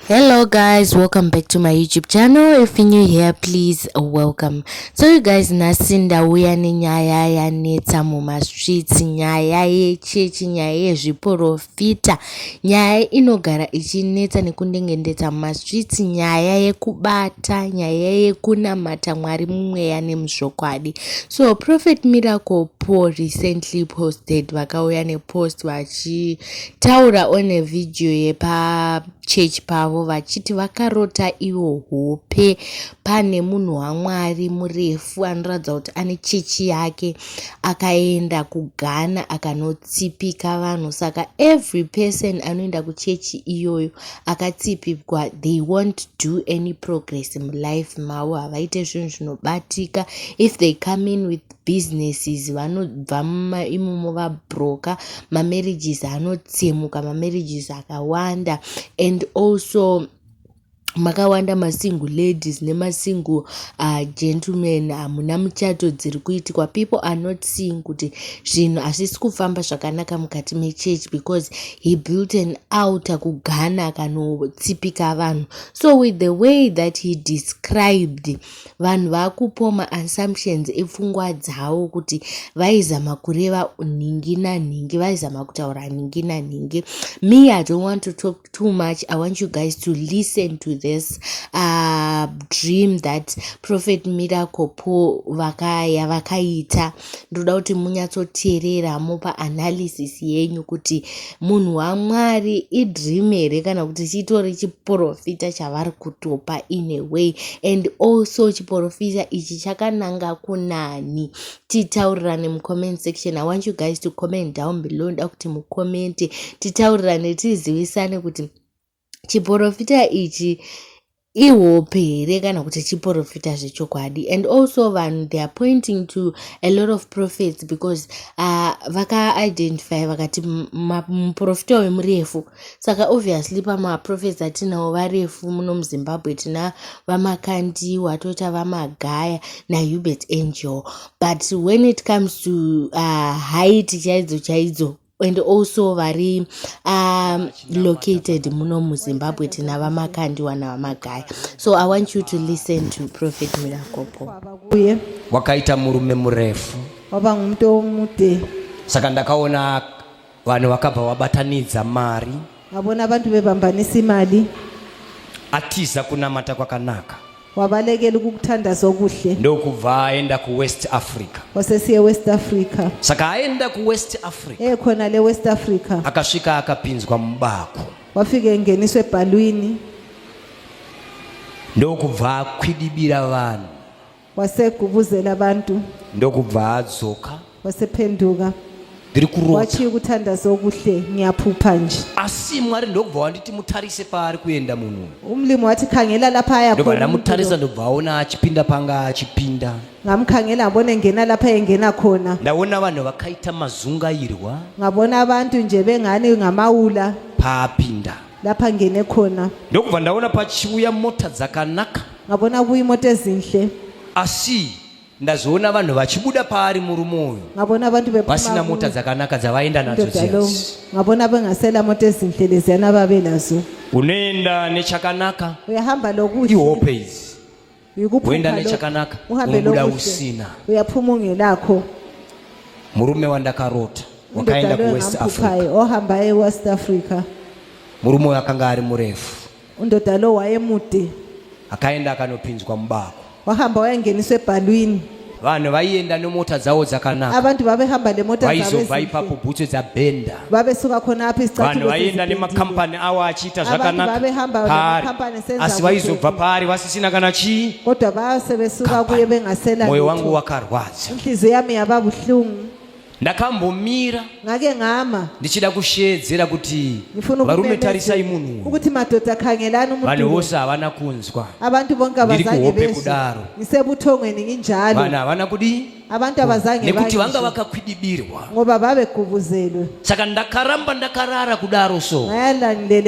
hello guys welcome back to my youtube channel if you're new here please welcome so you guys nhasi ndauya nenyaya yanetsa mumastreets nyaya yechechi nyaya yezviporofita nyaya inogara ichinetsa nekundengendetsa mumastreets nyaya yekubata nyaya yekunamata mwari mumweya nemuzvokwadi so prophet miracle paul recently posted vakauya nepost vachi Taura one video yepachurch pavo vachiti vakarota iwo hope pane munhu wamwari murefu anoratidza kuti ane chechi yake akaenda kughana akanotsipika vanhu saka every person anoenda kuchechi iyoyo akatsipikwa they won't do any progress mulife mavo havaite zvinhu zvinobatika if they come in with businesses vanobva imomo vabroker mamarriages anotsemuka mamarriages akawanda and also makawanda masingle ladies nemasingle uh, gentleman hamuna uh, muchato dziri kuitikwa people are not seeing kuti zvinhu hazvisi kufamba zvakanaka mukati mechurch because he built an outer kugana kanotsipika vanhu so with the way that he described uh, vanhu vakupoma assumptions epfungwa dzawo kuti vaizama kureva nhingi nanhingi vaizama kutaura nhingi nanhingi me i don't want to talk too much i want you guys to listen to this uh, dream that prophet miracle po vakaya vakaita vaka ndinoda kuti munyatsoteerera mopa analysis yenyu kuti munhu wamwari idream here kana kuti chitori chiprofita chavari kutopa in a way and also chiprofita ichi chakananga kunani titaurirane mucomment section i want you guys to comment down below nda kuti mucomente titaurirane tizivisane kuti chiporofita ichi ihope here kana kuti chiporofita zvechokwadi and also vanhu they are pointing to a lot of prophets because uh, vakaidentify vakati muprofita uyu murefu saka obviously pamaprofets atinawo varefu muno muzimbabwe tina vamakandiwa toita vamagaya nahubert angel but when it comes to uh, height chaidzo chaidzo and also vari um, located muno muzimbabwe tinava makandiwa navamagaya so i want you to listen to prophet mirakopo uye wakaita murume murefu wava ngumto mude saka ndakaona vanhu vakabva vabatanidza mari Ngabona abantu bebambanisa imali. Atiza kunamata kwakanaka. Wabalekela ukukuthandaza okuhle. Ndokubva aenda ku West Africa. Wasesiye West Africa. Saka aenda ku West Africa. Eh khona le West Africa. Akasvika akapinzwa mubako. Wafika engeniswe ebhalwini. Ndokubva akwidibira vanhu. wasegubuzela abantu ndokubva adzoka wasephenduka ndiri kurota wachiyi kuthandaza okuhle ngiyaphupha nje asi mwari ndokubva wanditi mutarise paari kuenda munhu uyu umlimi wathi khangela lapha aya ndobva ndamutarisa ndobva aona achipinda panga achipinda ngamkhangela ngabona engena lapha engena khona ndaona vanhu vakaita mazungairwa ngabona abantu nje bengani ngamawula paapinda ndapange nekhona ndokubva ndaona pachiuya mota dzakanaka ngabona kuyi mota ezinhle asi ndazoona vanhu vachibuda paari murume uyu ngabona abantu vasina mota dzakanaka dzavaenda nadzo dziyasi ngabona bengasela mota ezinhle leziyana babe nazo unoenda nechakanaka uyahamba lokuhle ihope idzi woenda nechakanaka unobuda usina murume wandakarota wakaenda kuwest africa murume uyo akanga ari murefu akaenda akanopinzwa mubako wahamba wayangeniswa ebhalwini vanhu vaienda nemota dzavo dzakanaka abantu babehamba nemota vaizobva ipapo bhutsu dzabhenda babesuka khona apho izicathulo vaienda nemakampani awo achiita zvakanakaasi vaizobva paari vasisina kana chii kodwa base besuka kuye bengasela moyo wangu wakarwadza inhliziyo yami yaba buhlungu ndakambomira ngake ngama ndichida kusheedzera kuti varume tarisai munhu ukuti madhodha khangelani umuntu vanhu vose havana kunzwa abantu bonke abazange bezwe kudaro ngisebuthongweni nginjalo vanhu havana kudii abantu abazange nekuti vanga vakakhwidibirwa ngoba babekubuzelwe saka ndakaramba ndakarara kudaro so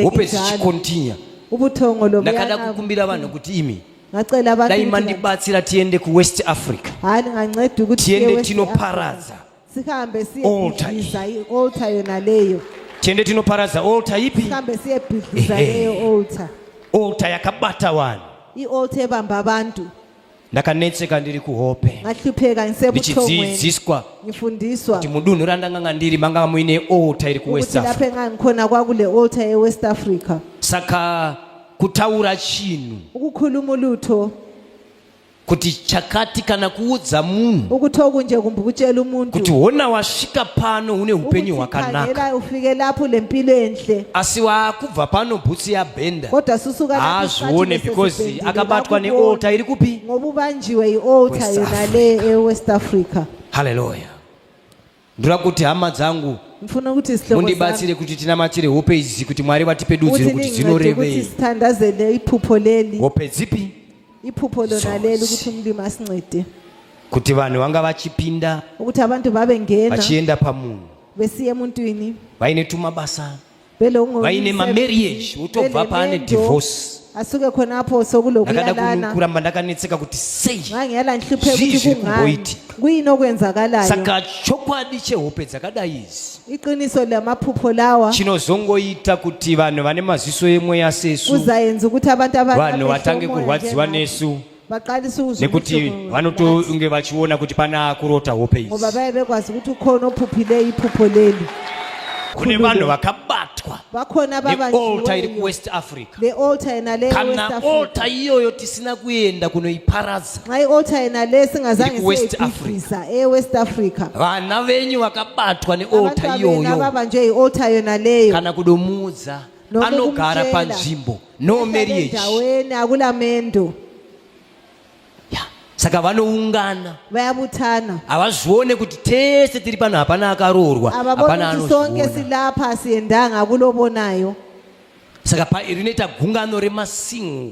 hope zichikontinya ubuthongo lobuyana ndakada kukumbira vanhu kuti imi ngacela dai mandibatsira tiende kuwest africa hayi ndinganceda ukuthi tiende tinoparadza sihambe siyebhidliza i-oltar yona leyo tiende tinoparadza oltar ipi sihambe siyebhidliza leyo oltar oltar yakabata vanhu i-oltar ebamba abantu ndakanetseka ndiri kuhope ngahlupheka ngisebuthongwenindichidzidziswa ngifundiswa kuti mudunhu randanga nga ndiri manga muine oltar iri kuwest africa lapho engangikhona kwakule oltar ewest africa saka kutaura chinhu ukukhuluma ulutho kuti chakati kana kuudza munhu ukuthi okunje kumbe ukutshela umuntu kuti hona wasvika pano une upenyu hwakanaka ufike lapho le mpilo enhle asi wakubva pano bhutsi yabhenda kodwa susuka haazvione because akabatwa neolta iri kupi ngoba ubanjiwe iolta yona le ewest africa halleluya Ndoda kuti hama dzangu Ndifuna kuti sihlobo sami mundibatsire kuti tinamatire hope idzi kuti Mwari vatipe dudziro kuti kuti ningincede ukuthi dzinorevei. sithandazele iphupho leli Hope dzipi? iphupho lona leli Zonse. ukuthi umlimi asincede Kuti vanhu vanga vachipinda ukuthi abantu babengena vachienda pamunhu besiya emuntwini vaine tumabasa vaine mamarriage wotobva paane divorce asuke khonapho sokulokulalanakuramba ndakanetseka kuti seizvizvikumboiti kuyini okwenzakalayo saka chokwadi chehope dzakadai izi iqiniso lamaphupho lawa chinozongoita kuti vanhu vane maziso emweya sesu kuzayenza ukuthi abantu vanhu vatange kurwadziwa nesu nekuti vanotonge vachiona kuti pana kurota hope idzi ngoba vaive kwazi kuti ukhona ophuphile iphupho leli kune vanhu vakabatwa neolta iri kuwest africa kana olta iyoyo tisina kuenda kunoiparadza ewest africa vana venyu vakabatwa neolta iyoyo kana kudomuudza anogara panzvimbo no marriage awene akula mendo saka vanoungana vayabutana havazvione kuti tese tiri pano hapana akaroorwa hapana anosonge silapha asiendanga akulobonayo saka rinoita gungano remasingo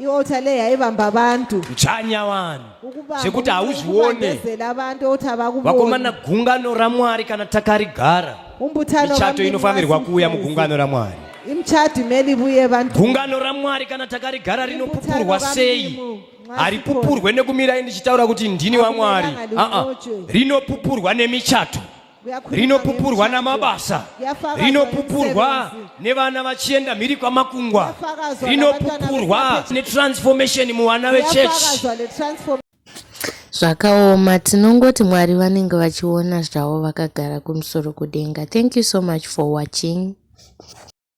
ialtar le yaivamba vantu kuchanya vanhu zvekuti hauzvione vakomana gungano ramwari kana takarigara michato inofanirwa kuuya mugungano ramwari imchati meli vuye vantu gungano ramwari kana takarigara rinopupurwa sei haripupurwe nekumira ndichitaura kuti ndini wamwari aa rinopupurwa nemichato rinopupurwa namabasa rinopupurwa nevana vachienda mhiri kwamakungwa rinopupurwa netransformation muvana vechechi zvakaoma tinongoti mwari vanenge vachiona zvavo vakagara kumusoro kudenga thank you so much for watching